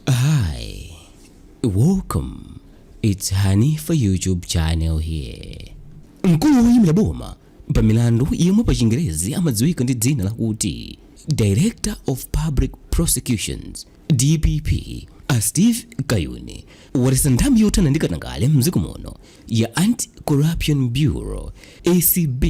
Hi, welcome. It's Hanifa YouTube channel here. Mkulu woyimira boma pa milandu yemwe pa chingerezi amadziwika ndi dzina lakuti Director of Public Prosecutions DPP a Steve Kayuni waletsa nthambi yothana ndi katangale mdziko muno ya Anti-Corruption Bureau ACB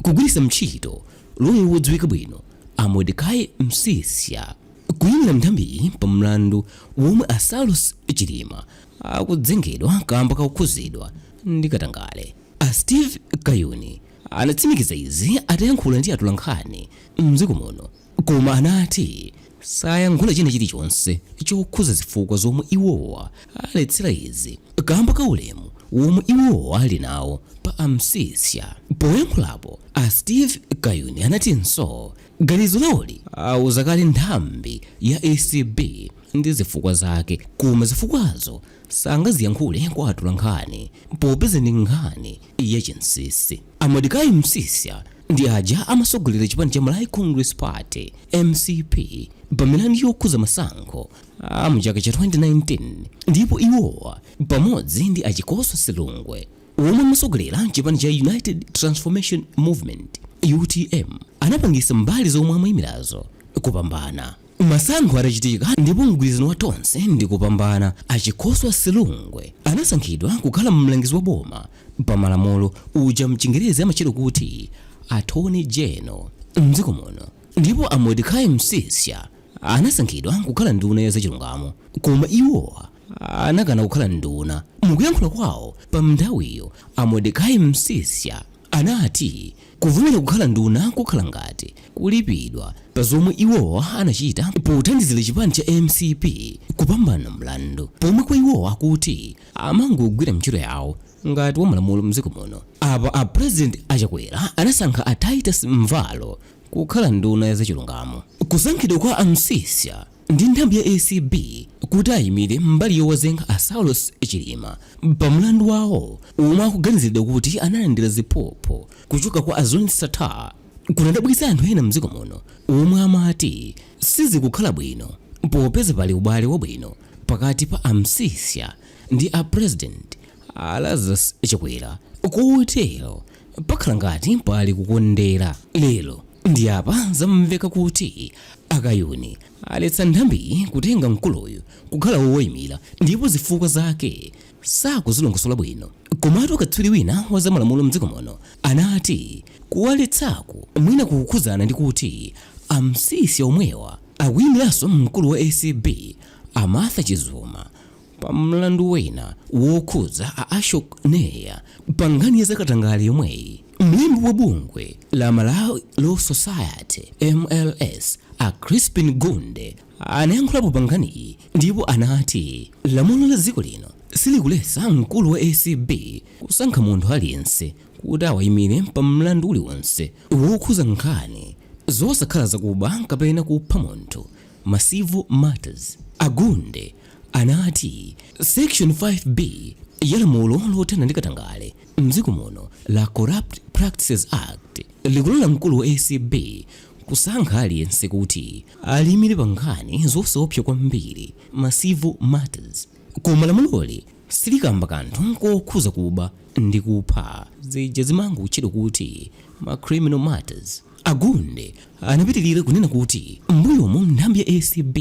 kugwiritsa ntchito loya wodziwika bwino a Modecai Msisha Kuyimira m'nthambiyi pa mlandu womwe a Saulos Chilima akudzengedwa kamba kakukhuzidwa ndi katangale, a Steve Kayuni anatsimikiza izi atayankhula ndi atolankhani m'dziko muno koma anati sayankhula china chilichonse chokhuza zifukwa zomwe iwowa aletsera izi kamba ka ulemu womwe iwowa ali nawo pa a Msisha. Poyankhulapo, a Steve Kayuni anatinso Ganizo lawoli auza kale nthambi ya acb ndi zifukwa zake koma zifukwazo sangaziyankhule kwa atolankhani popeza ndi nkhani ya chinsisi. A Modecai Msisha ndi aja amasogolera chipani cha Malawi Congress Party, mcp, pa milandu yokhuza masankho a mu chaka cha 2019 ndipo iwowa pamodzi ndi a Chikosa Silungwe, omwe amasogolera mchipani cha United Transformation Movement, utm, anapangisa mbali zomwe amayimirazo kupambana. Masankho atachitika ndipo mgwirizano wa Tonse ndi kupambana a Chikosa Silungwe anasankhidwa kukhala mlangizi wa boma pa malamulo uja mchingerezi amatchedwa kuti Attorney General mdziko muno ndipo a Modecai Msisha anasankhidwa kukhala nduna ya zachilungamo koma iwowa anakana kukhala nduna. Mukuyankhula kwawo pamnthawiyo, a Modecai Msisha anati kuvomera kukhala nduna kukhala ngati kulipidwa pa zomwe iwowa anachita pothandizira chipani cha mcp kupambana mlandu pomwe kwa iwowa akuti amangogwira mntchito yawo ngati wamalamulo mdziko muno. Apa a President a Chakwera anasankha a Titus Mvalo kukhala nduna ya zachilungamo. Kusankhidwa kwa a Msisha Ndi nthambi ya acb kuti ayimire mbali yowazenga a Saulos Chilima pa mlandu wawo omwe akuganiziridwa kuti analandira ziphuphu kuchoka kwa a Zuneth Sattar kunadabwitsa anthu ena mdziko muno omwe amati sizikukhala bwino popeza pali ubale wabwino pakati pa a Msisha ndi a President a Lazarus Chakwera kotero pakhala ngati pali kukondera lero ndi apa zamveka kuti akayuni aletsa nthambiyi kutenga mkuluyu kukhala wowayimira ndipo zifukwa zake sakuzilongosola bwino komatu katswiri wina wa zamalamulo mdziko muno anati kuwaletsaku mwina kukukhudzana ndi kuti amsisha omwewa akuyimiranso mkulu wa acb amatha chizuma Pa mlandu wina wokhudza a Ashok Nair pa nkhani ya zakatangale yomweyi, mlembi wa bungwe la Malawi Law Society, mls, a Chrispin Gunde anayankhulapo pa nkhaniyi ndipo anati lamulo la dziko lino silikuletsa mkulu wa acb kusankha munthu aliyense kuti awayimire pa mlandu uliwonse wokhudza nkhani zosakhala zakuba kapena kupha munthu, ma civil matters. A Gunde anati, Section 5B ya lamulo lothana ndi katangale m'dziko muno la Corrupt Practices Act likulola mkulu wa acb kusankha aliyense kuti aliyimire pa nkhani zosaopsa kwambiri, ma civil matters. Koma lamuloli silikamba kanthu kokhudza kuba ndi kupha, zija zimangotchedwa kuti ma criminal matters. A Gunde Anapitilira kunena kuti m'mbuyomu nthambi ya acb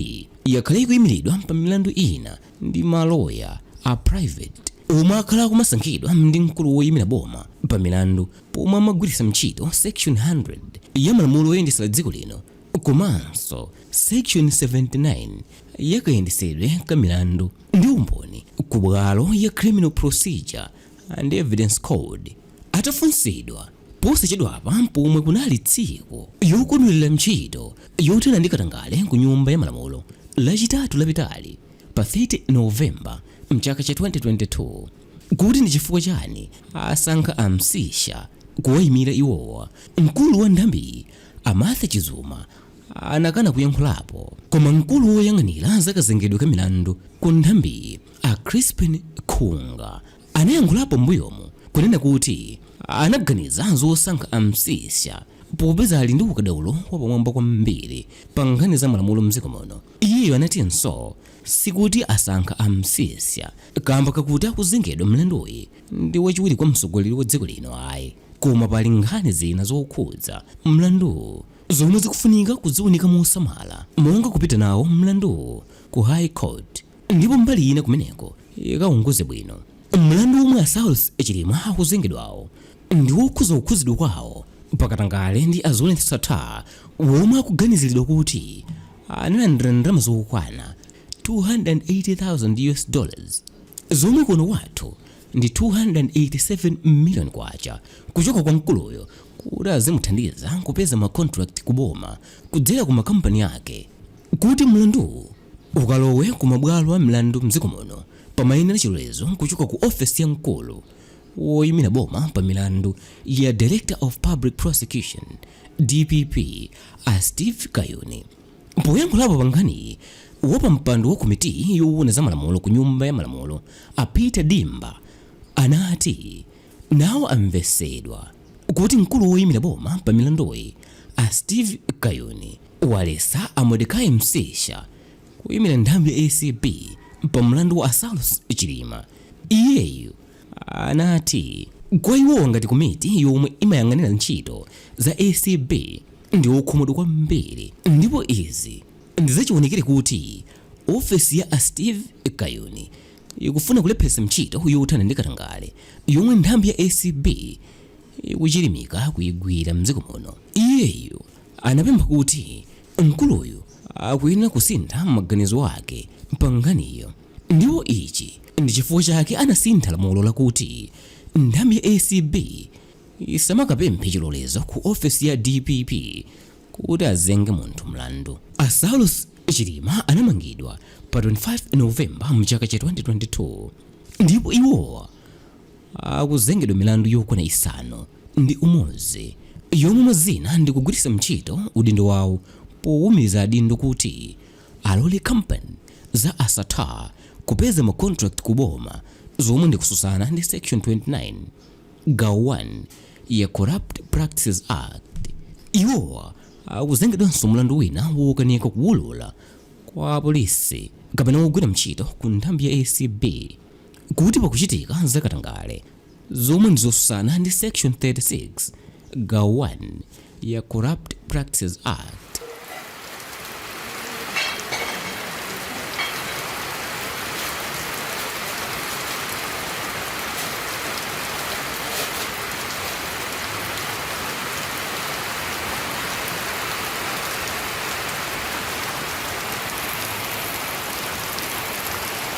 yakhala ikuyimiridwa pa milandu ina ndi ma loya a private omwe akhala akumasankhidwa ndi mkulu woyimira boma pa milandu pomwe amagwiritsa ntchito section 100 ya malamulo oyendetsera dziko lino komanso section 79 ya kayendetsedwe ka milandu ndi umboni ku bwalo ya Criminal Procedure and Evidence Code. Atafunsidwa Posachedwapa pomwe kunali tsiku yokondwelera ntchito yothana ndi katangale ku Nyumba ya Malamulo, Lachitatu lapitali pa 30 November mchaka cha 2022, kuti ndi chifukwa chani asankha a Msisha kuwayimira iwowa, mkulu wa nthambiyi a Martha Chizuma anakana kuyankhulapo. Koma mkulu woyang'anira za kazengedwe ka milandu ku nthambiyi a Chrispin Khunga, anayankhulapo mmbuyomu kunena kuti anaganiza zosankha a Msisha popeza ali ndi ukadaulo wapamwamba kwambiri pa nkhani za malamulo mdziko muno. Iyeyu anatinso sikuti asankha a Msisha kaamba kakuti akuzengedwa mlanduyi ndi wachiwiri kwa mtsogoleri wa dziko lino ayi koma pali nkhani zina zokhudza mlanduwu zomwe zikufunika kuziunika mosamala monga kupita nawo mlanduwu ku High Court. ndipo mbali ina kumeneko ikaunguze bwino mlandu womwe a saulos chilima akuzengedwawo ndi wokhuza kukhuzidwa kwawo pakatangale ndi a zuneth sattar womwe akuganiziridwa kuti analandira ndalama zokwana 280,000 us dollars zomwe kuno wathu ndi 287 million kwacha kuchoka kwa mkuluyo kuti azimuthandiza kupeza macontract kuboma kudzera ku makampani ake kuti mlanduwu Ukalowe ku mabwalo a mlandu m'dziko muno pamayenera chilolezo kuchoka ku ofesi ya mkulu woimira boma pa milandu ya Director of Public Prosecutions, dpp, a Steve Kayuni. Poyankhulapo pa nkhaniyi, wapampando wa komitiyi yoona za malamulo ku Nyumba ya Malamulo a Peter Dimba anati nawo amvetsedwa kuti mkulu woimira boma pa milanduyi a Steve Kayuni, Waletsa a Modecai Msisha kuyimira nthambi ya acb pa mlandu wa a Saulos Chilima. Iyeyu anati kwa iwowa ngati komiti yomwe imayang'anira ntchito za acb ndi okhumudwa kwambiri ndipo izi ndi zachiwonekere kuti ofesi ya a Steve Kayuni ikufuna kulepheretsa ntchito yothana ndi katangale yomwe nthambi ya acb ikuchilimika kuigwira m'dziko muno. Iyeyu anapempha kuti mkuluyu akuyenera kusintha maganizo ake pa nkhaniyo ndipo ichi ndi chifukwa chake anasintha lamulo lakuti nthambi ya acb isamakapemphe chilolezo ku ofesi ya dpp kuti azenge munthu mlandu. A Saulos Chilima anamangidwa pa 25 November mchaka cha 2022 ndipo iwowa akuzengedwa milandu yokwana isanu ndi umodzi yomwe mwa zina ndi kugwiritsa ntchito udindo wawo powumiriza adindo kuti alole kampani za a Sattar kupeza ma contract ku boma zomwe ndi kususana ndi section 29 gawo 1 ya Corrupt Practices Act. Iwowa akuzengedwanso mlandu wina wokanika kuwulula kwa apolisi kapena wogwira ntchito ku nthambi ya ACB kuti pakuchitika za katangale zomwe ndi zosusana ndi section 36 gawo 1 ya corrupt practices act